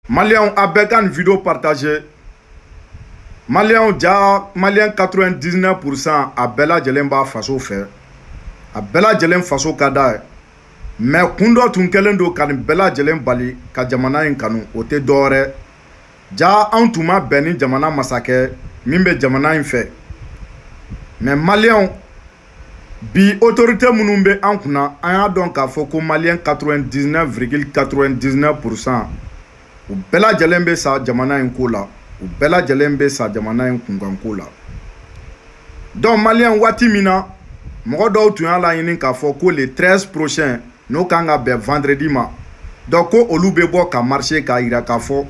Maliens a bɛɛ ka nin vidéo partagé Maliens jaa Maliens 99% a bɛɛ lajɛlen b'a faso fɛ a bɛɛ lajɛlen faso ka d'a ye mais kun dɔ tun kɛlen don ka nin bɛɛ lajɛlen bali ka jamana in kanu o tɛ dɔwɛrɛ jaa anw tun ma bɛn ni jamana masakɛ min bɛ jamana in fɛ mais Maliens bi otorite minnu bɛ an kunna an y'a dɔn k'a fɔ ko maliyɛn 99 virgule 99 pourcent u bɛɛ lajɛlen bɛ sa jamana in ko la u bɛɛ lajɛlen bɛ sa jamana in kunkanko la donc maliyɛn waati min na mɔgɔ dɔw tun y'a laɲini k'a fɔ ko le 13 prochain n'o kan ka bɛn vendredi ma donc ko olu bɛ bɔ ka marcher k'a yira k'a fɔ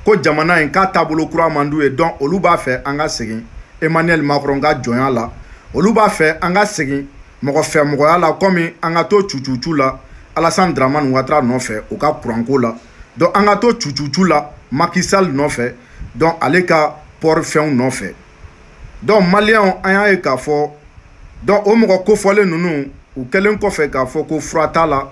ko jamana in ka taabolo kura man d'u ye donc olu b'a fɛ an ka segin emmanuel macron ka jɔnya la olu b'a fɛ an ka segin mɔgɔ fɛ mɔgɔya la kɔmi an ka to cucucu la alassane dramane ouattara nɔfɛ o ka kuranko la donc an ka to cucucu la macky sall nɔfɛ donc ale ka port fɛnw nɔfɛ donc maliyɛnw an y'a ye k'a fɔ donc o mɔgɔ kofɔlen ninnu u kɛlen kɔfɛ k'a fɔ ko fura t'a la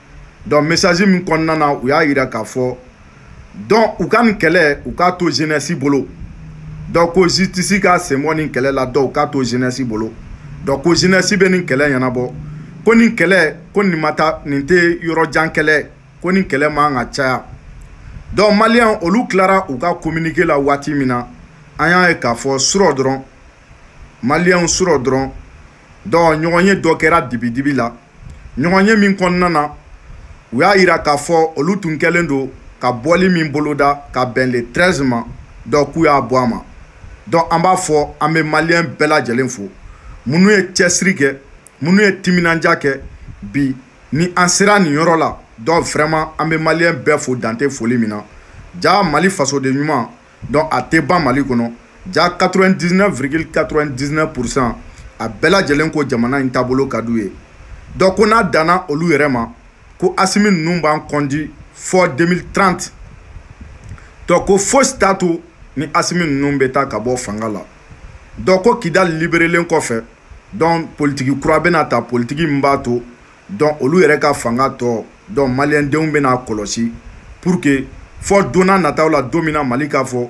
donc message min kɔnɔna na u y'a yira k'a fɔ donc u ka nin kɛlɛ u k'a to jeunesse bolo donc ko justice ka sen bɔ nin kɛlɛ la donc u k'a to jeunesse bolo donc ko jeunesse bɛ nin kɛlɛ ɲɛnabɔ ko nin kɛlɛ ko nin ma taa nin tɛ yɔrɔ jan kɛlɛ ko nin kɛlɛ man ka caya donc maliyɛn olu tilara u ka communiqué la waati min na an y'a ye k'a fɔ surɔ dɔrɔn maliyɛnw surɔ dɔrɔn donc ɲɔgɔnye dɔ kɛra dibidibi la ɲɔgɔnye min kɔnɔna na u y'a yira k'a fɔ olu tun kɛlen don ka bɔli min boloda ka bɛn le 13 ma donc k'u y'a bɔ a ma donc an b'a fɔ an bɛ maliyɛn bɛɛ lajɛlen fo minnu ye cɛsiri kɛ minnu ye timinandiya kɛ bi ni an sera nin yɔrɔ la donc vraiment an bɛ maliyɛn bɛɛ fo dan tɛ foli min na jaa mali fasoden ɲuman donc a tɛ ban mali kɔnɔ jaa 99 virgule 99 pourcent a bɛɛ lajɛlen ko jamana in taabolo ka d'u ye donc ko n'a danna olu yɛrɛ ma ko asimi ninnu b'an conduit fo 2030 donc ko fosi t'a to ni asimi ninnu bɛ taa ka bɔ fanga la donc ko kidali liberelen kɔfɛ donc politiki kura bɛna ta politiki min b'a to donc olu yɛrɛ ka fanga tɔ donc maliyɛndenw bɛna a kɔlɔsi pour que fo don n'a nataw la don min na Mali k'a fɔ